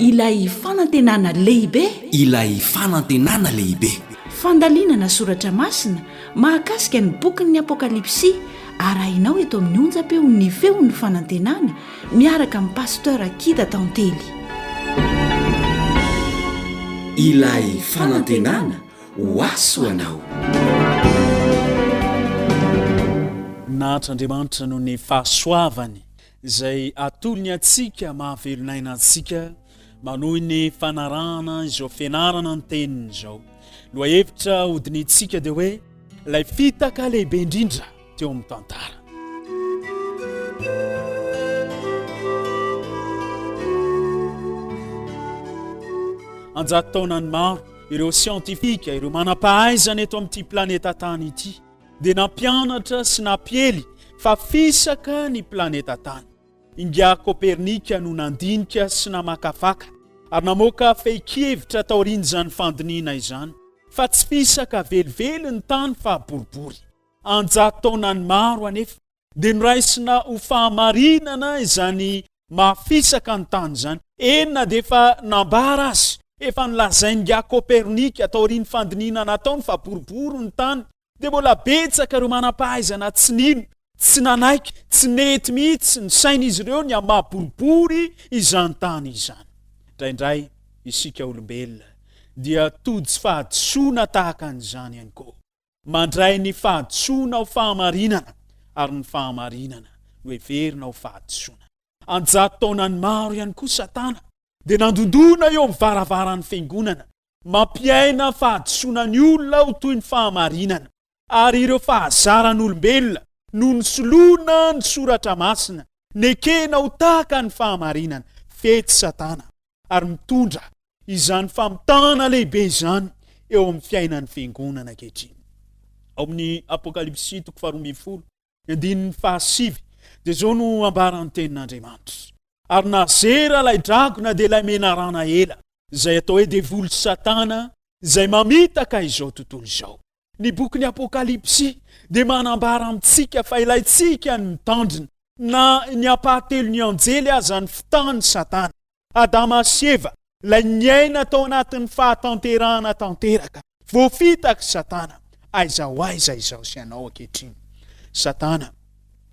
Ilay fanantenana lehibe. Ilay fanantenana lehibe. Fandalinana soratra masina mahakasika ny bokin'ny Apokalypsy arahinao eto amin'ny onjam-peo ny feon'ny fanantenana miaraka amin'ny Pasteur Kida Tantely. Ilay fanantenana ho azy ho anao. Nahantra Andriamanitra noho ny fahasoavany izay atolony antsika mahavelon'aina antsika manohy ny fanarahana izao fianarana ny teniny izao. Lohahevitra hodinihintsika dia hoe ilay fitaka lehibe indrindra. teo amin'ny tantara. Anjato taonany maro, ireo siantifika, ireo manam-pahaizana eto amin'ity planeta tany ity, dia nampianatra sy nampiely fa fisaka ny planeta tany. Inga Kopernika no nandinika sy namakafaka ary namoaka fehin-kevitra taorian'izany fandinihina izany fa tsy fisaka velively ny tany fa boribory. an-jatotaonany maro anefa dia noraisina ho fahamarinana izany mafisaka ny tany izany. Eny na dia efa nambara azy, efa nolazain'ingahy Copernic taorian'ny fandinihina nataony fa boribory ny tany, dia mbola betsaka ireo manam-pahaizana tsy nino, tsy nanaiky, tsy nety mihitsy ny sain'izy ireo ny amin'ny maha-boribory izany tany izany. Indraindray isika olombelona dia tojo fahadisoana tahaka an'izany ihany koa. Mandray ny fahadisoana ho fahamarinana, ary ny fahamarinana no heverina ho fahadisoana. An-jato taonany maro ihany koa Satana dia nandondona eo amin'ny varavaran'ny Fiangonana, mampiaina fahadisoana ny olona ho toy ny fahamarinana, ary ireo fahazaran'olombelona no nisoloana ny Soratra Masina, nekena ho tahaka ny fahamarinana. Fety Satana! ary mitondra izany famitahana lehibe izany eo amin'ny fiainan'ny fiangonana ankehitriny. Ao amin'ny Apokalypsy toko faharoa ambin'ny folo, ny andininy fahasivy, dia izao no ambaran'ny tenin'Andriamanitra. Ary nazera ilay dragona dia ilay menarana ela, izay atao hoe devoly sy Satana, izay mamitaka izao tontolo izao. Ny bokin'ny Apokalypsy dia manambara amintsika fa ilaintsika ny mitandrina, na ny ampahatelon'ny anjely aza ny fitahan'i Satana. Adama sy Eva, ilay niaina tao anatin'ny fahatanterahana tanteraka, voafitak'i Satana. Aiza ho aiza izaho sy ianao ankehitriny? Satana,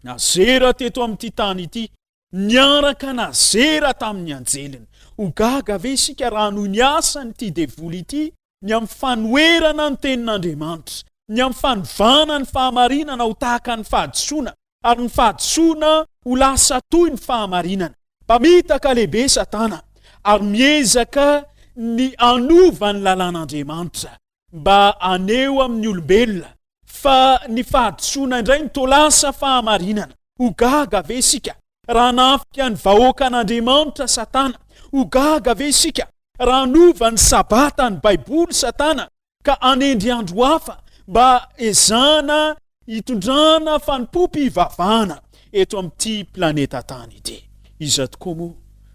nazera teto amin'ity tany ity, Niaraka nazera tamin'ny anjeliny. Ho gaga ve isika raha noho ny asan'ity devoly ity ny amin'ny fanoherana ny tenin'Andriamanitra, ny amin'ny fanovana ny fahamarinana ho tahaka ny fahadisoana, ary ny fahadisoana ho lasa toy ny fahamarinana? Mpamitaka lehibe Satana, ary miezaka ny hanova ny lalàn'Andriamanitra. mba haneho amin'ny olombelona fa ny fahadisoana indray no toa lasa fahamarinana. Ho gaga ve isika raha hanafika ny vahoakan'Andriamanitra Satana? Ho gaga ve isika raha hanova ny Sabata, ny Baiboly, Satana ka hanendry andro hafa mba hezahana Hitondrana fanompoam-pivavahana eto amin'ity planeta tany ity. Iza tokoa moa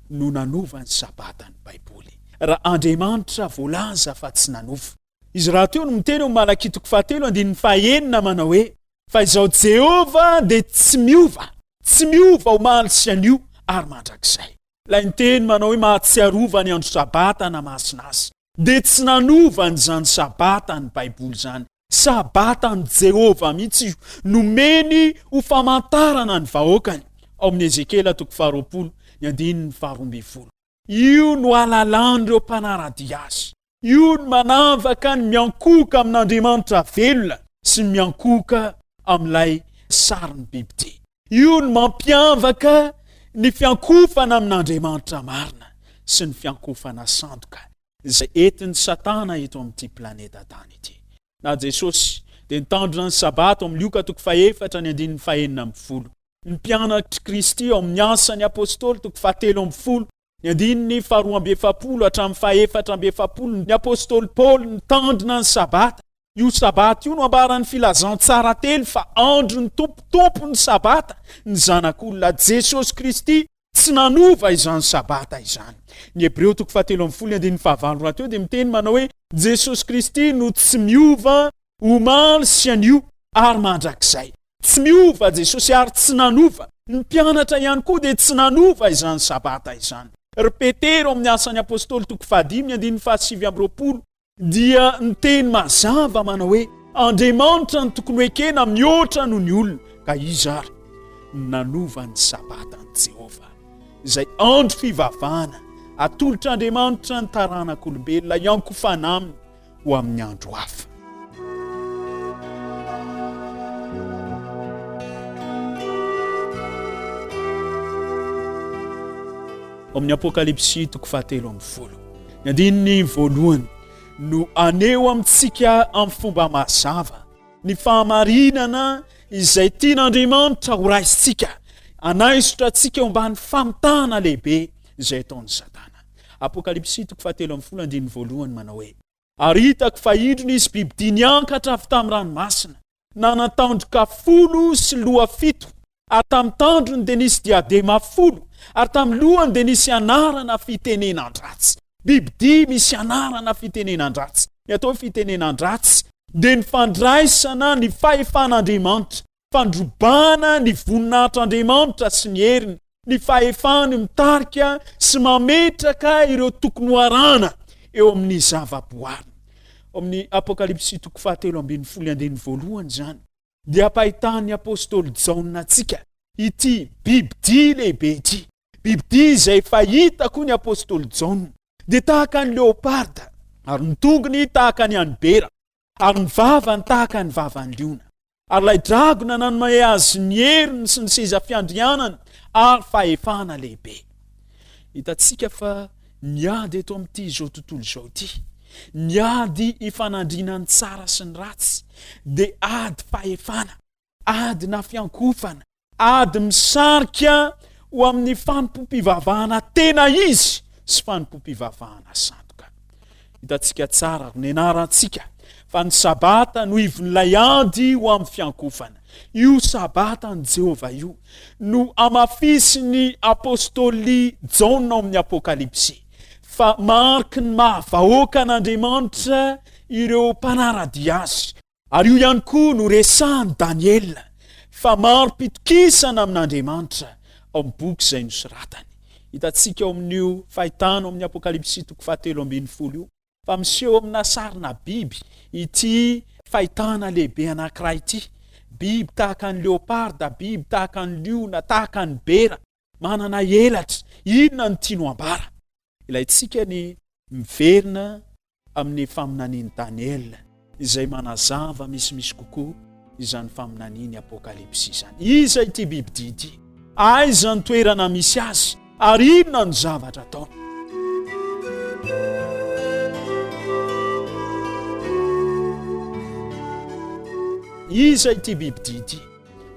no nanova ny Sabata ny Baiboly, raha Andriamanitra voalaza fa tsy nanova? Izy rahateo no miteny ao amin'ny Malakia toko fahatelo andininy fahenina manao hoe, Fa izao Jehovah dia tsy miova, tsy miova omaly sy anio ary mandrakizay. Ilay niteny manao hoe mahatsiarova ny andro Sabata na masina azy. dia tsy nanova an'izany Sabata ny Baiboly izany. Sabatan'i Jehovah mihitsy io, nomeny ho famantarana ny vahoakany, ao amin'ny Ezekiela toko faharoapolo, ny andininy faharoa ambin'ny folo. Io no ahalalan'ireo mpanara-dia azy. Io no manavaka ny miankohoka amin'Andriamanitra velona sy ny miankohoka amin'ilay sarin'ny bibidia. Io no mampiavaka ny fiankofana amin'Andriamanitra marina sy ny fiankofana sandoka izay entin'i Satana eto amin'ity planeta tany ity. Na Jesosy dia nitandrina ny Sabata ao amin'ny Lioka toko fahefatra ny andininy fahenina ambin'ny folo. Ny mpianatr'i Kristy ao amin'ny Asan'ny Apostoly toko fahatelo ambin'ny folo Ny andininy faharoa amby efapolo hatramin'ny fahefatra amby efapolo, ny apostoly Paoly nitandrina ny Sabata. Io Sabata io no ambaran'ny Filazantsara telo fa andron'ny Tompo, Tompon'ny Sabata, ny Zanak'olona, Jesosy Kristy, tsy nanova izany Sabata izany. Ny Hebreo toko fahatelo ambin'ny folo, ny andininy fahavalo rahateo dia miteny manao hoe, Jesosy Kristy no tsy miova omaly sy anio ary mandrakizay. Tsy miova Jesosy ary tsy nanova. Ny mpianatra ihany koa dia tsy nanova izany sabata izany. Ry Petera ao amin'ny Asan'ny Apostoly toko fahadimy andininy fahasivy amby roapolo dia niteny mazava manao hoe Andriamanitra no tokony ho ekena mihoatra noho ny olona. Ka iza ary no nanova ny sabata an'i Jehovah izay andro fivavahana atolotr'Andriamanitra ny taranak'olombelona hiankofana aminy ho amin'ny andro hafa. Ao amin'ny Apokalypsy toko fahatelo amin'ny folo, ny andininy voalohany no aneho amintsika amin'ny fomba mazava ny fahamarinana izay tian'Andriamanitra horaisintsika, hanaisotra antsika ho mban'ny famitahana lehibe izay ataon'i Satana. Apokalypsy toko fahatelo ambin'ny folo andininy voalohany manao hoe. Ary hitako fa indro nisy bibidia niankatra avy tamin'ny ranomasina, nanan-tandroka folo sy loha fito, ary tamin'ny tandrony dia nisy diadema folo, ary tamin'ny lohany dia nisy anarana fitenenan-dratsy. Bibidia misy anarana fitenenan-dratsy. Ny atao hoe fitenenan-dratsy dia ny fandraisana ny fahefan'Andriamanitra. fandrobana ny voninahitr'Andriamanitra sy ny heriny, ny fahefany mitarika sy mametraka ireo tokony ho arahana eo amin'ny zavaboary. Ao amin'ny Apokalypsy toko fahatelo ambin'ny folo andininy voalohany izany dia ampahitan'ny apostoly Jaona antsika ity bibidia lehibe ity. Bibidia izay fahita koa ny apostoly Jaona dia tahaka ny leoparda ary ny tongony tahaka ny an'ny bera. Ary ny vavany tahaka ny vavan'ny liona. Ary ilay dragona nanome azy ny heriny sy ny seza fiandrianany ary fahefana lehibe. Hitantsika fa ny ady eto amin'ity izao tontolo izao ity, ny ady ifanandrinan'ny tsara sy ny ratsy, dia ady fahefana. adina fiankofana, ady misarika ho amin'ny fanompoam-pivavahana tena izy sy fanompoam-pivavahana sandoka. Hitantsika tsara, honenarantsika fa ny sabata no ivon'ilay ady ho amin'ny fiankofana. Io sabata ny Jehovah io no amafisin'ny apostoly Jaona ao amin'ny Apokalypsy fa mariky ny maha vahoakan'Andriamanitra ireo mpanara-dia azy. Ary io ihany koa no resahin'i Daniela fa marim-pitokisana amin'Andriamanitra ao amin'ny boky izay nosoratany. Hitantsika ao amin'io fahitana ao amin'ny Apokalypsy toko fahatelo ambin'ny folo io fa miseho amina sarina biby ity fahitana lehibe anankiray ity, biby tahaka ny leoparda, biby tahaka ny liona, tahaka ny bera. Manana elatra. Inona no tianao ambara? Ilaintsika ny miverina amin'ny faminanian'i Daniela izay manazava misimisy kokoa izany faminanian'ny Apokalypsy izany. Iza ity bibidia ity? Aiza ny toerana misy azy? Ary inona no zavatra ataony? Iza ity bibidia ity?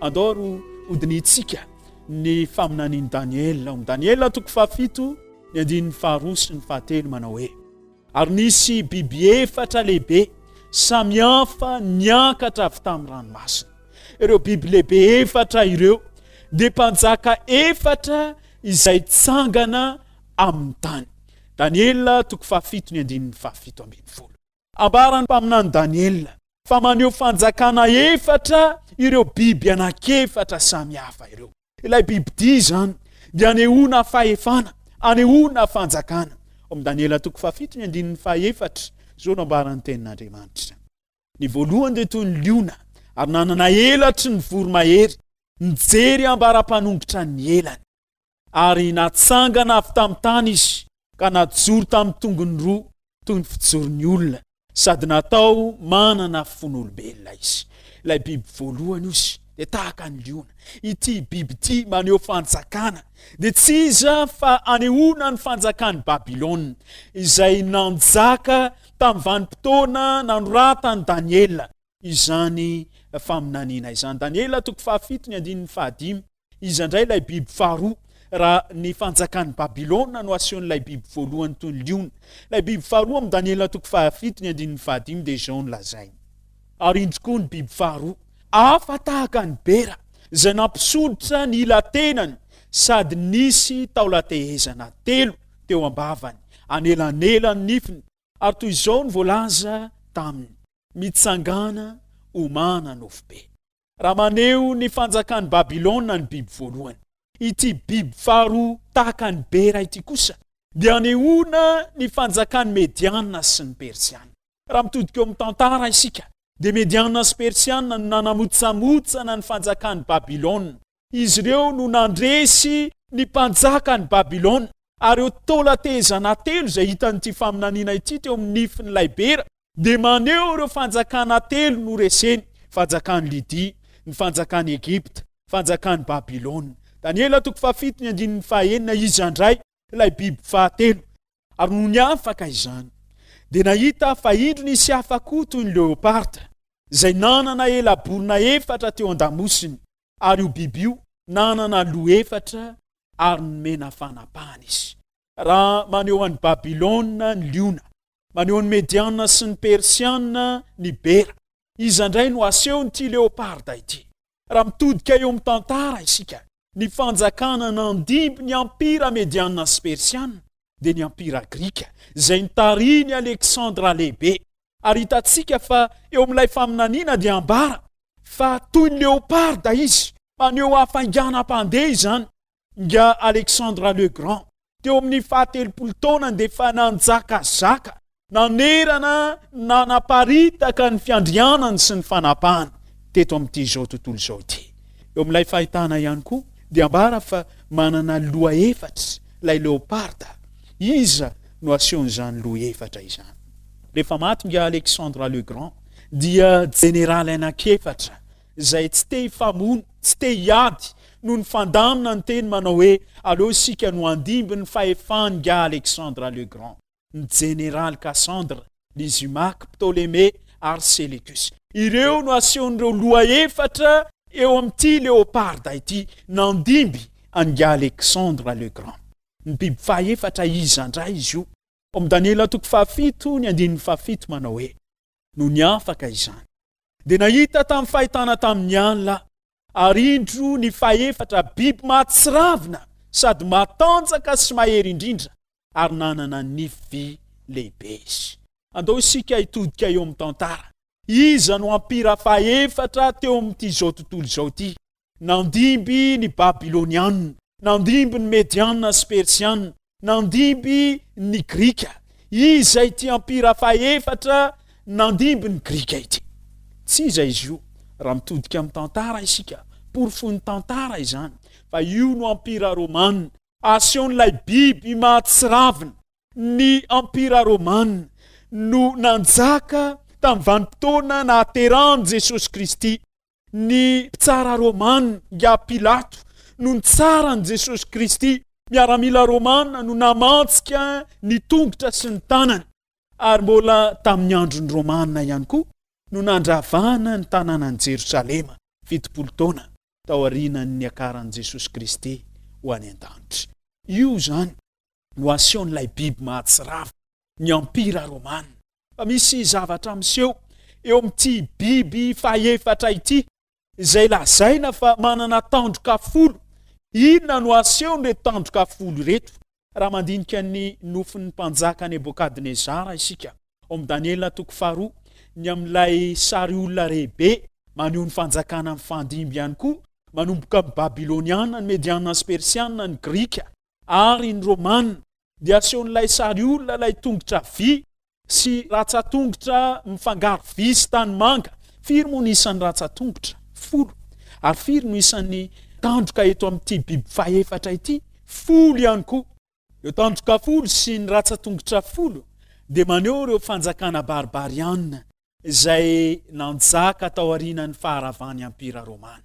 Andao ry hodinintsika Ny faminanian'i Daniela, ao amin'ny Daniela toko fahafito, ny andininy faharoa sy ny fahatelo, manao hoe, Ary nisy biby efatra lehibe samihafa niakatra avy tamin'ny ranomasina. Ireo biby lehibe efatra ireo dia mpanjaka efatra izay tsangana amin'ny tany. Daniela toko fahafito ny andininy fahafito ambin'ny folo. Ambaran'ny mpaminany Daniela fa maneho fanjakana efatra ireo biby anankiefatra samy hafa ireo. Ilay bibidia izany dia anehoana fahefana, anehoana fanjakana. Ao amin'ny Daniela toko fahafito ny andininy fahefatra, izao no ambaran'ny Tenin'Andriamanitra. Ny voalohany dia toy ny liona ary nanana elatry ny voromahery, nijery ambara-panongotra ny elany. Ary natsangana avy tamin'ny tany izy ka najoro tamin'ny tongony roa toy ny fijoron'ny olona, sady natao manana fon'olombelona izy. Ilay biby voalohany izy dia tahaka ny liona. Ity biby ity maneho fanjakana, dia tsy iza fa anehoana ny fanjakan'i Babylona, izay nanjaka tamin'ny vanim-potoana nanoratan'i Daniela izany faminaniana izany. Daniela toko fahafito ny andininy fahadimy. Iza indray ilay biby faharoa? Raha ny fanjakan'i Babylona no asehon'ilay biby voalohany toy ny liona. Ilay biby faharoa amin'ny Daniela toko fahafito ny andininy fahadimy dia izao no lazainy. Ary indro koa ny biby faharoa, hafa tahaka ny bera, izay nampisolotra ny ila-tenany sady nisy taolan-tehezana telo teo am-bavany, anelanelan'ny nifiny, ary toy izao no voalaza taminy, Mitsangàna, homana nofo be. raha maneho ny fanjakan'i Babylona ny biby voalohany. Ity biby faharoa tahaka ny bera ity kosa dia anehoana ny fanjakan'ny Mediana sy ny Persiana. Raha mitodika eo amin'ny tantara isika dia Mediana sy Persiana no nanamotsamotsana ny fanjakan'i Babylona Izy ireo no nandresy ny mpanjakan'i Babylona, ary ireo taolan-tehezana telo izay hitan'ity faminaniana ity teo amin'ny nifin'ilay bera dia maneho ireo fanjakana telo noreseny, fanjakan'i Lydia, ny fanjakan'i Egypta, fanjakan'i Babylona. Daniela toko fahafito ny andininy fahenina Iza indray ilay biby fahatelo? Ary nony afaka izany, dia nahita aho fa indro nisy hafa koa toy ny leoparda, izay nanana ela-borona efatra teo an-damosiny, ary io biby io nanana loha efatra ary nomena fanapahana izy. Raha maneho an'i Babylona ny liona, maneho an'i Mediana sy ny Persiana ny bera, iza indray no asehon'ity leoparda ity? Raha mitodika eo amin'ny tantara isika, ny fanjakana nandimby ny Ampira Mediana sy Persiana dia ny Ampira Grika, izay nitarihin'i Aleksandra Lehibe. Ary hitantsika fa eo amin'ilay faminaniana dia ambara fa toy ny leoparda izy, maneho hafainganam-pandeha izany. Nga Alexandre le Grand teo amin'ny fahatelopolo taonany dia efa nanjakazaka, nanerana, nanaparitaka ny fiandrianany sy ny fanapahany teto amin'ity izao tontolo izao ity. Eo amin'ilay fahitana ihany koa dia ambara fa manana loha efatra ilay leoparda. Iza no asehon'izany loha efatra izany? Rehefa maty Nga Alexandre le Grand dia jeneraly anankiefatra izay tsy te hifamono, tsy te hiady, no nifandamina niteny manao hoe aleo isika no handimby ny fahefan'ingahy Alexandre le Grand, ny Jeneraly Cassandre, Lysimaque, Ptolémée ary Sélécus. Ireo no asehon'ireo loha efatra eo amin'ity Léoparda ity nandimby an'ingahy Alexandre le Grand. Ny biby fahefatra iza indray izy io? Ao amin'ny Daniela toko fahafito ny andininy fahafito manao hoe, Nony afaka izany, dia nahita tamin'ny fahitana tamin'ny alina, ary indro ny fahefatra biby mahatsiravina sady matanjaka sy mahery indrindra ary nanana nify vy lehibe izy. Andao isika hitodika eo amin'ny tantara. Iza no ampira fahefatra teo amin'ity izao tontolo izao ity? Nandimby ny Babylonianina, nandimby ny Medianina sy Persianina, nandimby ny Grika. Iza ity ampira fahefatra nandimby ny Grika ity? Tsy iza izy io, raha mitodika amin'ny tantara isika, porofoin'ny tantara izany, fa io no ampira romanina. Asehon'ilay biby mahatsiravina, ny ampira romanina no nanjaka tamin'ny vanim-potoana nahaterahan'i Jesosy Kristy. ny mpitsara romana, nga Pilato, no nitsara an'i Jesosy Kristy. Miaramila romana no namantsika ny tongotra sy ny tanany, ary mbola tamin'ny andron'ny Romana ihany koa no nandravana ny tanànan'i Jerosalema, fitopolo taona taorianan'ny niakaran'i Jesosy Kristy ho any an-danitra. Io izany no asehon'ilay biby mahatsiravina, ny Empira Romana. Fa misy zavatra miseho eo amin'ity biby fahefatra ity, izay lazaina fa manana tandroka folo. Inona no asehon'ireto tandroka folo ireto? Raha mandinika ny nofin'ny mpanjaka Nebokadnezara isika ao amin'ny Daniela toko faharoa, ny amin'ilay sary olona rehibe maneho ny fanjakana mifandimby ihany koa, manomboka amin'ny Babyloniana, ny Mediana sy Persiana, ny Grika, ary ny Romana dia asehon'ilay sary olona ilay tongotra vy sy ratsatongotra mifangaro vy sy tanimanga. Firy moa no isan'ny ratsatongotra? Folo. Ary firy no isan'ny tandroka eto amin'ity biby fahefatra ity? Folo ihany koa. Ireo tandroka folo sy ny ratsatongotra folo dia maneho ireo fanjakana barbariana izay nanjaka taorianan'ny faharavan'ny Empira Romana.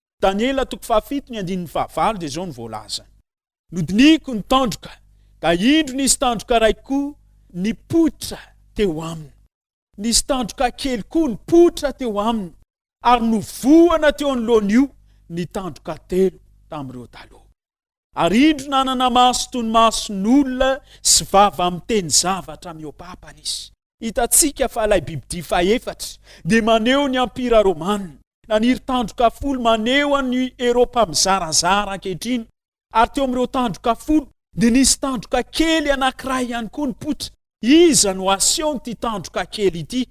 Daniela toko fahafito ny andininy fahavalo dia izao no voalaza. Nodinihiko ny tandroka, ka indro nisy tandroka iray koa nipoitra teo aminy. Nisy tandroka kely koa nipoitra teo aminy, ary novohana teo anoloan'io ny tandroka telo tamin'ireo taloha. Ary indro nanana maso toy ny mason'olona sy vava miteny zavatra mihoapapana izy. Hitantsika fa ilay bibidia fahefatra dia maneho ny Empira Romana. Naniry tandroka folo maneho an'i Eropa mizarazara ankehitriny, ary teo amin'ireo tandroka folo dia nisy tandroka kely anankiray ihany koa nipoitra. Iza no asehon'ity tandroka kely ity?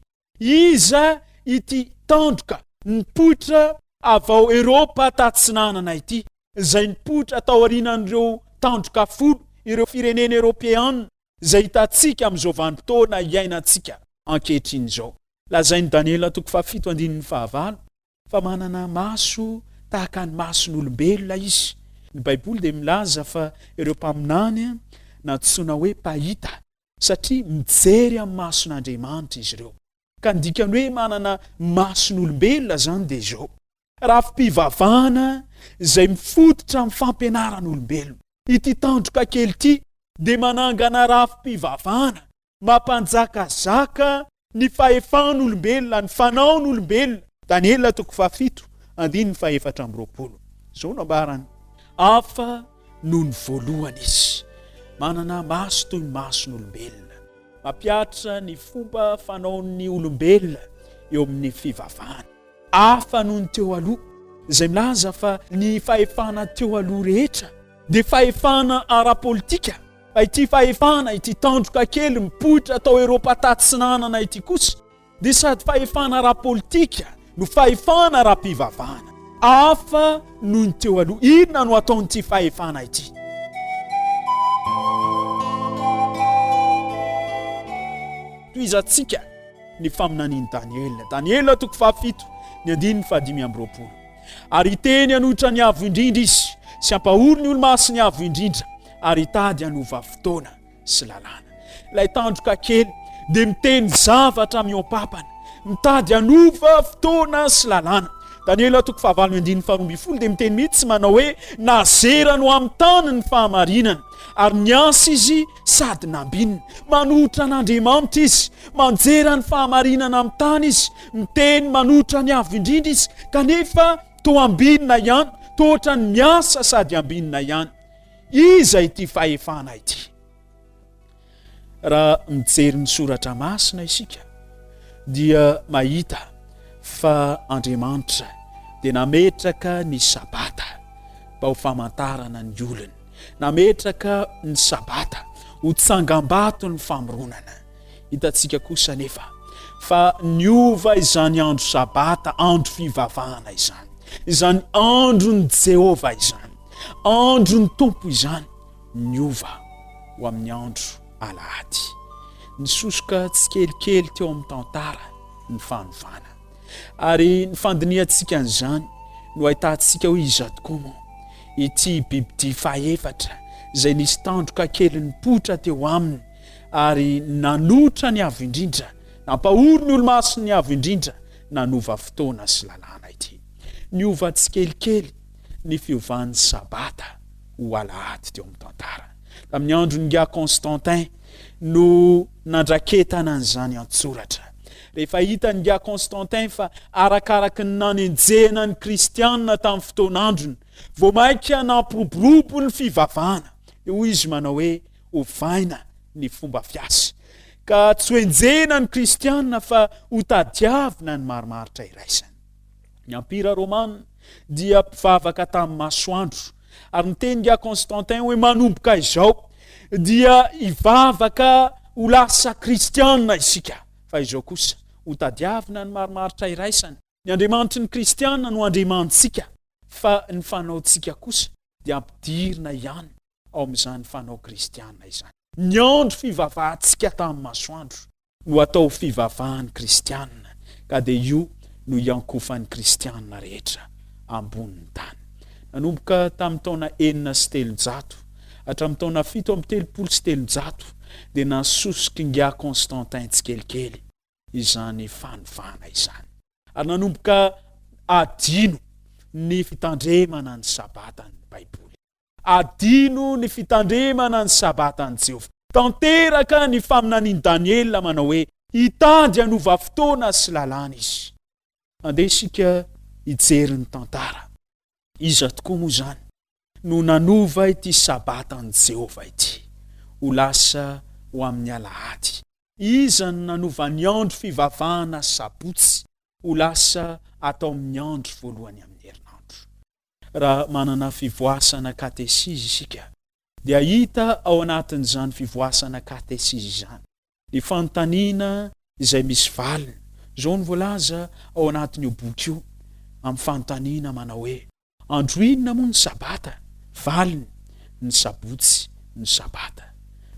Iza ity tandroka nipoitra avy ao Eropa Tatsinanana ity, izay nipoitra taorianan'ireo tandroka folo ireo firenena Eropeana izay hitantsika amin'izao vanim-potoana iainantsika ankehitriny izao? Lazain'i Daniela toko fahafito andininy fahavalo fa manana maso tahaka ny mason'olombelona izy. Ny Baiboly dia milaza fa ireo mpaminany nantsoina hoe mpahita, satria mijery amin'ny mason'Andriamanitra izy ireo. Ka ny dikany hoe manana mason'olombelona izany dia izao, rafi-pivavahana izay mifototra amin'ny fampianaran'olombelona. Ity tandroka kely ity dia manangana rafi-pivavahana Mampanjakazaka ny fahefan'olombelona, ny fanaon'olombelona. Daniela toko fahafito, andininy fahefatra amby roapolo. Izao no ambarany, Hafa noho ny voalohany izy, manana maso toy ny mason'olombelona. Mampiatra ny fomba fanaon'ny olombelona eo amin'ny fivavahana. Hafa noho ny teo aloha, izay milaza fa ny fahefana teo aloha rehetra dia fahefana ara-politika. Ity fahefana, ity tandroka kely mipoitra tao Eropa tatsinanana ity kosa dia sady fahefana ara-politika no fahefana ara-pivavahana. Hafa noho ny teo aloha. Inona no ataon'ity fahefana ity? Tohizantsika ny faminanian'i Daniela. Daniela toko fahafito, ny andininy fahadimy amby roapolo. Ary hiteny hanohitra ny avo indrindra izy, sy hampahory ny olo-masiny avo indrindra. ary hitady hanova fotoana sy lalàna. Ilay tandroka kely dia miteny zavatra mihoam-pampana, mitady hanova fotoana sy lalàna. Daniela toko fahavalo andininy faharoa ambin'ny folo dia miteny mihitsy manao hoe nazera no amin'ny tany ny fahamarinana ary niasa izy sady nambinina manohitra an'andriamanitra izy manjera ny fahamarinana amin'ny tany izy miteny manohitra ny avo indrindra izy kanefa toa ambinina ihany toa ohatran'ny miasa sady ambinina ihany Iza ity fahefana ity? Raha mijery ny soratra masina isika dia mahita fa Andriamanitra dia nametraka ny sabata mba ho famantarana ny olony, nametraka ny sabata ho tsangambato ny famoronana. Hitantsika kosa anefa fa niova izany andro sabata, andro fivavahana izany, izany andron'i Jehovah izany. Andron'ny Tompo izany niova ho amin'ny andro alahady. Nisosoka tsikelikely teo amin'ny tantara ny fanovana. Ary ny fandinihantsika an'izany no ahitantsika hoe iza tokoa moa ity bibidia fahefatra izay nisy tandroka kely nipoitra teo aminy ary nanotra ny avo indrindra, nampahory ny olomasiny avo indrindra, nanova fotoana sy lalàna ity. Niova tsikelikely ny fiovan'ny Sabata ho Alahady teo amin'ny tantara. Tamin'ny andron'i Nga Constantin no nandraketana an'izany an-tsoratra. Rehefa hitan'i Nga Constantin fa arakaraky ny nanenjehana ny Kristianina tamin'ny fotoan'androny, vao mainka nampiroborobo ny fivavahana. Dia hoy izy manao hoe ovaina ny fomba fiasa, ka tsy hoenjehina ny Kristianina fa hotadiavina ny marimaritra iraisany. Ny Empira Romana dia mpivavaka tamin'ny masoandro, ary niteny dia Constantin hoe manomboka izao dia hivavaka ho lasa kristianina isika, fa izao kosa hotadiavina ny marimaritra iraisany. Ny Andriamanitry ny kristianina no Andriamanitsika, fa ny fanaontsika kosa dia ampidirina ihany ao amin'izany fanao kristianina izany. Niandry fivavahantsika tamin'ny masoandro no atao fivavahan'ny kristiana ka dia io no iankofan'ny kristiana rehetra ambonin'ny tany. Nanomboka tamin'ny taona enina sy telonjato hatramin'ny taona fito amby telopolo sy telonjato dia nasoso Kinga Constantin tsikelikely izany fanovana izany ary nanomboka adino ny fitandremana ny Sabata ny Baiboly. Adino ny fitandremana ny Sabatan'i Jehovah. Tanteraka ny faminanian'i Daniela manao hoe, Hitady hanova fotoana sy lalàna izy. Andeha isika hijery ny tantara. Iza tokoa moa izany no nanova ity Sabatan'i Jehovah ity ho lasa ho amin'ny alahady? Iza no nanova ny andro fivavahana Sabotsy ho lasa atao amin'ny andro voalohany amin'ny herinandro? Raha manana fivoasana katesizy isika, dia hita ao anatin'izany fivoasana katesizy izany ny fanontaniana izay misy valiny. Izao no voalaza ao anatin'io boky io amin'ny fanontaniana manao hoe, Andro inona moa ny Sabata? Valiny, Ny Sabotsy no Sabata.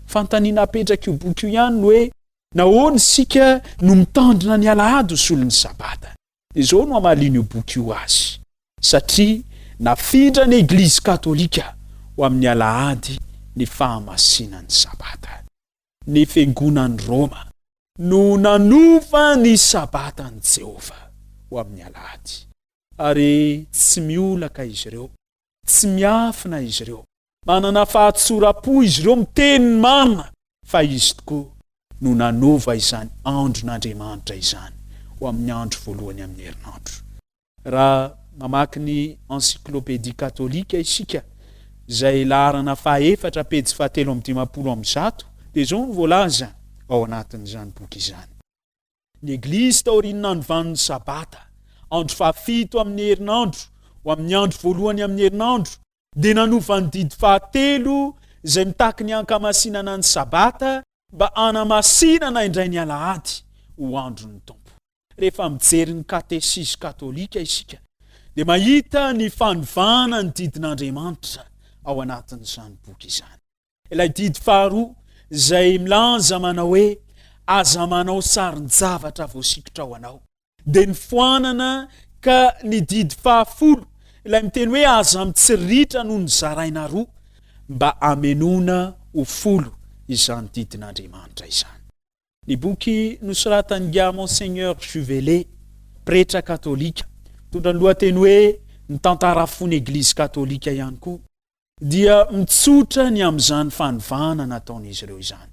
Fanontaniana apetrak'io boky io ihany ny hoe, Nahoana isika no mitandrina ny Alahady ho solon'ny Sabata? Izao no hamalian'io boky io azy, Satria nafindran'ny Eglizy Katolika ho amin'ny Alahady ny fahamasinan'ny Sabata, ny Fiangonan'i Roma no nanova ny Sabatan'i Jehovah ho amin'ny Alahady, ary tsy miolaka izy ireo Tsy miafina izy ireo. Manana fahatsoram-po izy ireo miteny ny marina fa izy tokoa no nanova izany andron'Andriamanitra izany ho amin'ny andro voalohany amin'ny herinandro. Raha mamaky ny Encyclopédie catholique isika, izay laharana fahaefatra pejy fahatelo amby dimampolo amby zato, dia izao no voalaza ao anatin'izany boky izany. Ny Eglizy taorian'ny andro vanin'ny Sabata, andro fahafito amin'ny herinandro, ho amin'ny andro voalohany amin'ny herinandro, dia nanova ny didy fahatelo izay mitaky ny hankamasinana ny Sabata mba hanamasinana indray ny Alahady ho andron'ny Tompo. Rehefa mijery ny Katesizy Katolika isika dia mahita ny fanovana ny didin'Andriamanitra ao anatin'izany boky izany. Ilay didy faharoa izay milaza manao hoe aza manao sarin-javatra voasikotra ho anao. Dia nifoanana ka ny didy fahafolo ilay miteny hoe aza mitsiritra no nizaraina roa mba hamenoana ho folo izany didin'Andriamanitra izany. Ny boky nosoratan'ingahy Monseigneur Juvelet, pretra katolika, mitondra ny lohateny hoe Ny Tantara Fon'Eglizy Katolika ihany koa. dia mitsotra ny amin'izany fanovana nataon'izy ireo izany.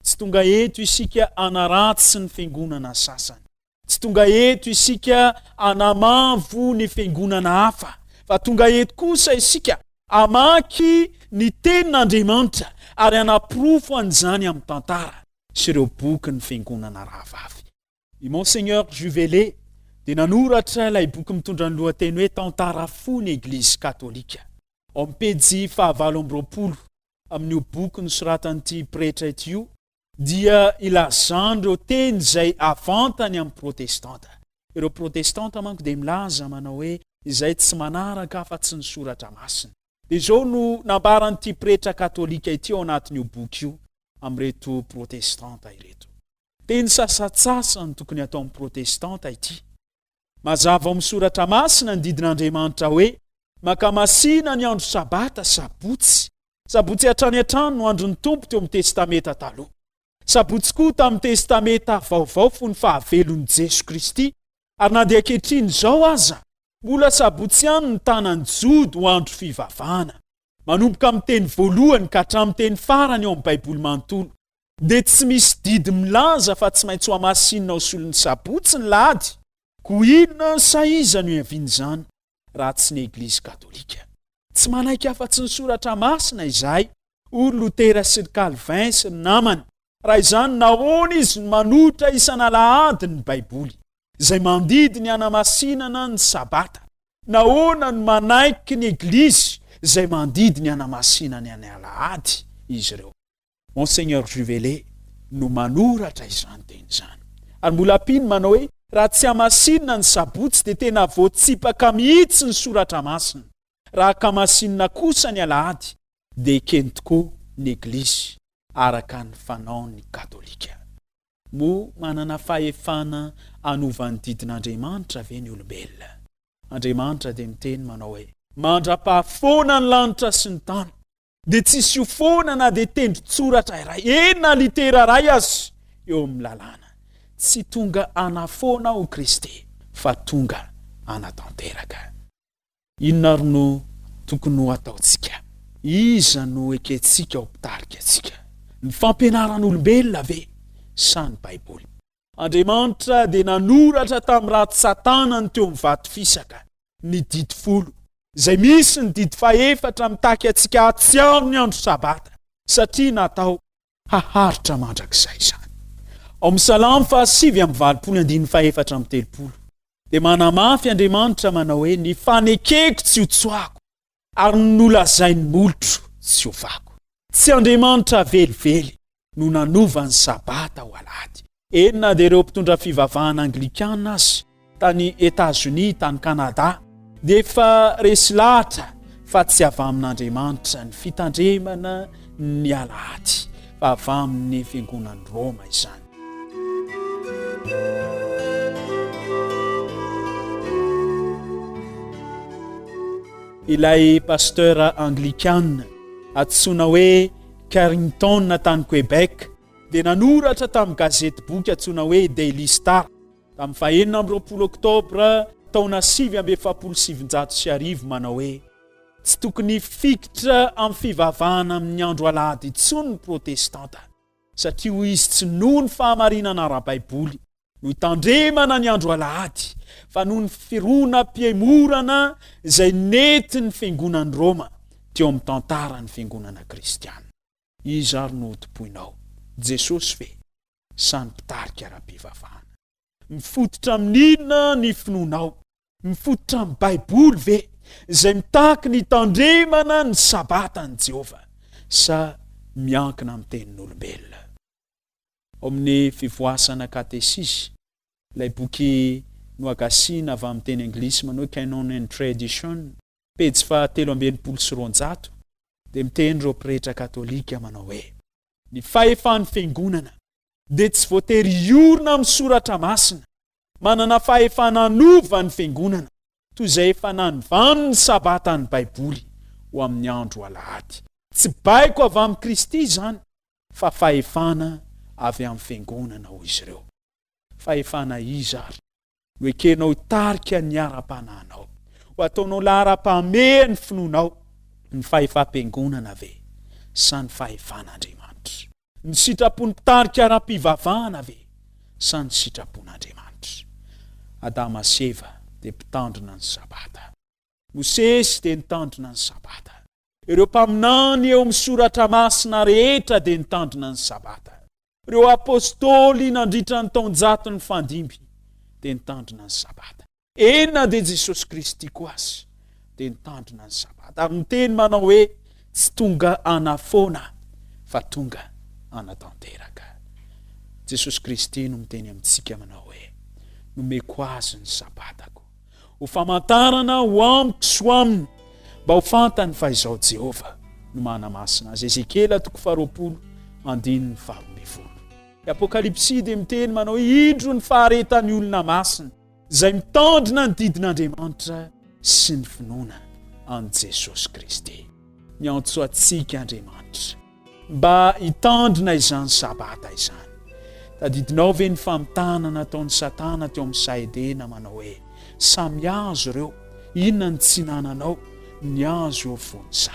Tsy tonga eto isika hanaratsy ny fiangonana sasany. Tsy tonga eto isika hanamavo ny fiangonana hafa, fa tonga eto kosa isika hamaky ny tenin'Andriamanitra ary hanaporofo an'izany amin'ny tantara sy ireo boky ny fiangonana rahavavy. I Monseigneur Juvele dia nanoratra ilay boky mitondra ny lohateny hoe Tantara fo ny Eglizy Katolika. Ao amin'ny pejy fahavalo amby roapolo amin'io boky nosoratan'ity pretra ity io dia ilazany ireo teny izay avantany amin'ny Protestanta. Ireo Protestanta manko dia milaza manao hoe izay tsy manaraka afa-tsy ny Soratra Masina. Dia izao no nambaran'ity pretra katolika ity ao anatin'io boky io amin'ireto Protestanta ireto. Teny sasantsasany tokony ataon'ny Protestanta ity. Mazava ao amin'ny Soratra Masina ny didin'Andriamanitra hoe, Maka masina ny andro Sabata, Sabotsy. Sabotsy hatrany hatrany no andron'ny Tompo teo amin'ny Testamenta Taloha. Sabotsy koa tamin'ny Testamenta Vaovao fony fahavelon'i Jeso Kristy, ary na dia ankehitriny izao aza, mbola Sabotsy ihany ny tanan'ny Jody ho andro fivavahana, manomboka amin'ny teny voalohany ka hatramin'ny teny farany ao amin'ny Baiboly manontolo. Dia tsy misy didy milaza fa tsy maintsy ho hamasinina ao solon'ny sabotsy ny lahady. Koa inona sa iza no hiavian'izany raha tsy ny Eglizy Katolika? Tsy manaiky afa-tsy ny Soratra Masina izahay, hoy ry Lotera sy ry Calvin sy ny namany. Raha izany, nahoana izy no manohitra isan'alahady ny Baiboly, izay mandidy ny hanamasinana ny Sabata? Nahoana no manaiky ny Eglizy izay mandidy ny hanamasinany ny Alahady, izy ireo? Monseigneur Juvelet no manoratra izany teny izany. Ary mbola ampiny manao hoe, raha tsy hamasinina ny sabotsy dia tena voatsipaka mihitsy ny soratra masina, raha hakamasinina kosa ny alahady dia ekeny tokoa ny eglizy araka ny fanaon'ny katolika. Moa manana fahefana hanova ny didin'Andriamanitra ve ny olombelona? Andriamanitra dia miteny manao hoe, mandrapaha foana ny lanitra sy ny tany, dia tsy hisy ho foana na dia tendrin-tsoratra iray eny na litera iray aza eo amin'ny lalàna. Tsy tonga hanafoana aho Kristy fa tonga hanatanteraka. Inona ary no tokony ho ataontsika? Iza no ekentsika ho mpitarika antsika, ny fampianaran'olombelona ve sa ny Baiboly? Andriamanitra dia nanoratra tamin'ny ratsan-tanany teo amin'ny vato fisaka ny Didy Folo, izay misy ny didy fahefatra mitaky antsika hahatsiaro ny andro Sabata, satria natao haharitra mandrakizay izany. Ao amin'ny Salamo fahasivy amby valopolo andininy fahefatra amby telopolo dia manamafy Andriamanitra manao hoe, Ny fanekeko tsy hotsoahako, Ary nolazain'ny molotro tsy ho fako. Tsy Andriamanitra velively no nanova ny Sabata ho Alahady. Eny na dia ireo mpitondra fivavahana Anglikana aza tany Etazonia, tany Kanada dia efa resy lahatra fa tsy avy amin'Andriamanitra ny fitandremana ny Alahady fa avy amin'ny Fiangonan'i Roma izany. Ilay pasteur anglikana antsoina hoe Carrington tany Québec dia nanoratra tamin'ny gazety boky antsoina hoe Daily Star tamin'ny fahenina amby roapolo oktobra taona sivy amby efapolo sy sivinjato sy arivo manao hoe tsy tokony hifikitra amin'ny fivavahana amin'ny andro alahady intsony ny protestanta. Satria hoy izy, tsy noho ny fahamarinana ara-baiboly no hitandremana ny andro alahady, fa noho ny fironam-pihemorana izay nentin'ny fiangonan'i Roma teo amin'ny tantaran'ny fiangonana kristiana. Iza ary no hotompoinao, Jesosy ve sa ny mpitarika ara-pivavahana? Mifototra amin'inona ny finoanao? Mifototra amin'ny Baiboly ve, izay mitaky ny hitandremana ny Sabatan'i Jehovah, sa miankina amin'ny tenin'olombelona? Ao amin'ny Fivoasana Katesisy, ilay boky nohagasiana avy amin'ny teny anglisy manao hoe Canon and Tradition, pejy fahatelo amby enimpolo sy roanjato, dia miteny ireo pretra katolika manao hoe. Ny fahefan'ny Fiangonana dia tsy voatery hiorina amin'ny soratra masina. Manana fahefana hanova ny Fiangonana, toy izay efa nanivany ny Sabata ny Baiboly, ho amin'ny andro Alahady. Tsy baiko avy amin'i Kristy izany, fa fahefana avy amin'ny Fiangonana, hoy izy ireo. Fahefana iza àry? Ho ekenao tarika ny ara-panahinao? Ho ataonao laharam-pahamehana ny finoanao? Ny fahefam-piangonana ve sa ny fahefan'Andriamanitra? Ny sitrapon'ny mpitarika ara-pivavahana ve sa ny sitrapon'Andriamanitra? Adama sy Eva dia mpitandrina ny Sabata. Mosesy dia nitandrina ny Sabata. Ireo mpaminany eo amin'ny Soratra Masina rehetra dia nitandrina ny Sabata. Ireo Apôstôly nandritra ny taonjatony fahadimy dia nitandrina ny Sabata. Eny na dia Jesosy Kristy koa aza dia nitandrina ny Sabata ary niteny manao hoe, Tsy tonga hanafoana fa tonga hanatanteraka. Jesosy Kristy no miteny amintsika manao hoe, Nomeko azy ny Sabatako. ho famantarana ho amiko sy ho aminy, mba ho fantany fa izaho Jehovah no manamasina azy. Ezekiela toko faharoapolo andininy faharoambivolo. I Apokalypsy dia miteny manao hoe indro ny faharetan'ny olona masina izay mitandrina ny didin'Andriamanitra sy ny finoana an'i Jesosy Kristy. Miantso antsika Andriamanitra. Mba hitandrina izany Sabata izany, tadidinao ve ny famitana nataon'i Satana teo amin'ny saha Edena manao hoe, Samy hazo ireo, inona no tsy hinananao? Ny hazo eo fony sa?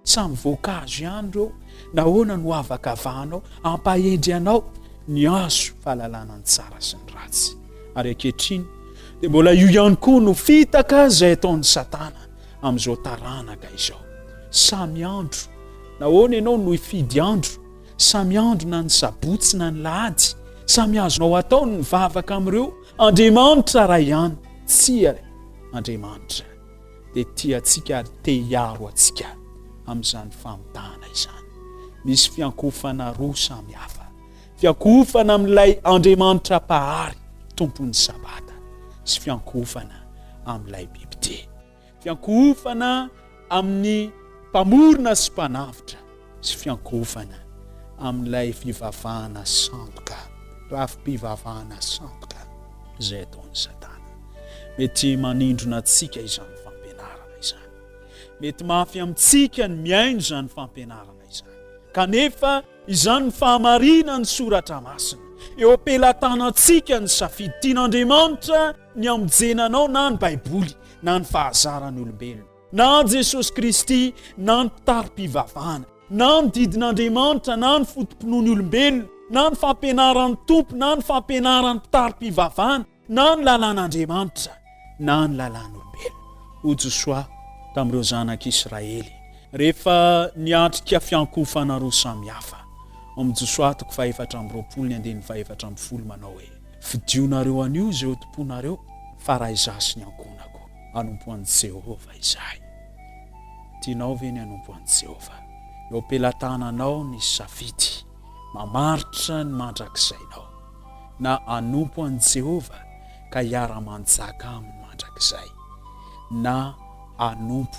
Samy voankazo ihany ireo, nahoana no havakavahanao? Hampahendry anao ny hazo fahalalana ny tsara sy ny ratsy. Ary ankehitriny dia mbola io ihany koa no fitaka izay ataon'i Satana amin'izao taranaka izao. Samy andro. Nahoana ianao no hifidy andro? Samy andro na ny sabotsy na ny lahady. Samy azonao atao ny mivavaka amin'ireo andriamanitra iray ihany. Tsia, Andriamanitra dia tia antsika ary te hiaro antsika amin'izany famitahana izany. Misy fiankofana roa samy hafa. Fiankohofana amin'ilay Andriamanitra Mpahary, Tompon'ny Sabata, sy fiankohofana amin'ilay bibidia. Fiankohofana amin'ny Mpamorona sy Mpanavotra, sy fiankohofana amin'ilay fivavahana sandoka, rafi-pivavahana sandoka, izay ataon'i Satana. Mety manindrona antsika izany fampianarana izany. Mety mafy amintsika ny mihaino izany fampianarana izany. fahamarinana izany. Kanefa izany ny fahamarinan'ny soratra masina. Eo am-pelatanantsika ny safidy, tian'Andriamanitra ny hamonjena anao na ny Baiboly na ny fahazaran'olombelona, na an'i Jesosy Kristy na ny mpitari-pivavahana, na ny didin'Andriamanitra na ny foto-pinoan'ny olombelona, na ny fampianaran'ny Tompo na ny fampianaran'ny mpitari-pivavahana, na ny lalàn'Andriamanitra na ny lalàn'olombelona. Hoy Josoa tamin'ireo zanak'i Israely rehefa niatrika fiankohofana roa samy hafa, ao amin'ny Josoa toko fahefatra amby roapolo ny andininy fahefatra ambin'ny folo, manao hoe, Fidionareo anio izay hotompoinareo, fa raha izaho sy ny ankohonako hanompo an'i Jehovah izahay. Tianao ve ny hanompo an'i Jehovah? Eo am-pelatananao ny safidy mamaritra ny mandrakizainao. na hanompo an'i Jehovah ka hiara-manjaka aminy mandrakizay, na hanompo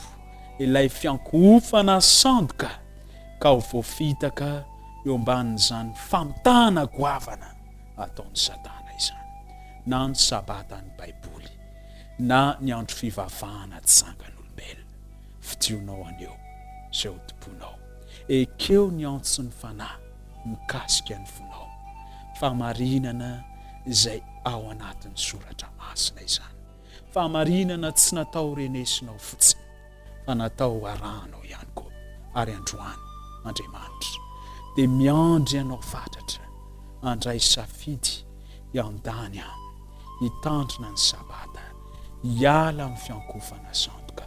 ilay fiankohofana sandoka ka ho voafitaka eo ambanin'izany famitahana goavana ataon'i Satana izany, na ny Sabatan'ny Baiboly, na ny andro fivavahana tsy zangan'olombelona. Fidinao anio izay hotompoinao. Ekeo ny antson'ny Fanahy. mikasika ny fonao. Fahamarinana izay ao anatin'ny soratra masina izany. Fahamarinana tsy natao renesinao fotsiny fa natao arahanao ihany koa. Ary androany Andriamanitra dia miandry anao fatratra handray safidy hiandany aminy, hitandrina ny sabata, hiala amin'ny fiankofana sandoka.